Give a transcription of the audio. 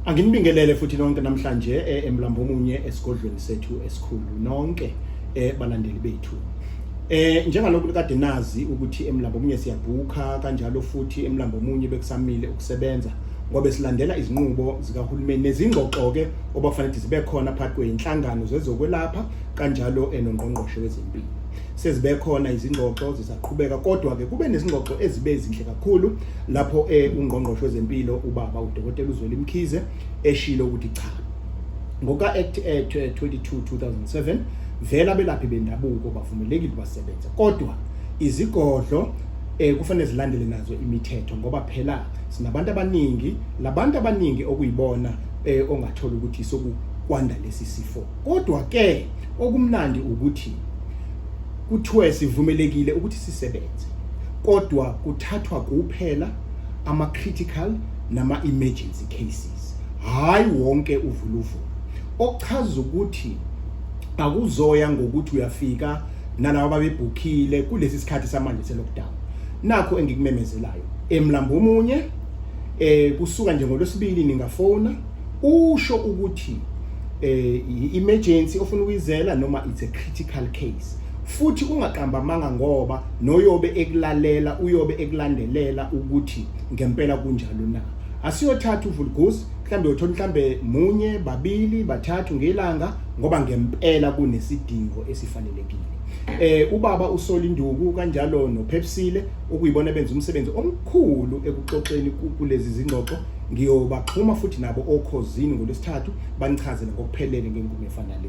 Anginibingelele futhi nonke namhlanje eh, emlambo omunye esigodlweni sethu esikhulu nonke eh, balandeli bethu. Eh njengalokhu kade nazi ukuthi emlambo omunye siyabhuka kanjalo futhi emlambo omunye bekusamile ukusebenza ngoba silandela izinqubo zikahulumeni nezingxoxo ke obafanele zibe khona phakathi kweinhlangano zezokwelapha kanjalo enongqongqoshe eh, wezempilo. Sezibe khona izingxoxo zisaqhubeka kodwa ke kube nezingxoxo ezibe ezinhle kakhulu lapho e ungqongqoshe wezempilo ubaba uDokotela uZweli Mkhize eshilo ukuthi cha ngoka Act 22 2007 vela belaphi bendabuko bavumelekile basebenza kodwa izigodlo eh kufanele zilandele nazo imithetho ngoba phela sinabantu abaningi labantu abaningi okuyibona eh ongathola ukuthi sokukwanda lesi sifo kodwa ke okumnandi ukuthi Kuthiwe sivumelekile ukuthi sisebenze kodwa kuthathwa kuphela ama-critical nama-emergency cases hhayi wonke uvuluvulu okuchaza ukuthi akuzoya ngokuthi uyafika nalabo babebhukhile kulesi sikhathi samanje se-lockdown nakho engikumemezelayo emlambo omunye eh kusuka nje ngolwesibili ningafona usho ukuthi eh i-emergency ofuna ukuyizela noma it's a critical case futhi ungaqamba amanga ngoba noyobe ekulalela uyobe ekulandelela ukuthi ngempela kunjalo na asiyothatha uvulgus mhlambe uthola mhlambe munye babili bathathu ngelanga ngoba ngempela kunesidingo esifanelekile eh ubaba usola induku kanjalo nophepsile okuyibona benza umsebenzi omkhulu ekuxoxeni kulezi zingxoxo ngiyobaxhuma futhi nabo okhozini ngolesithathu banichazele ngokuphelele ngenkume efanele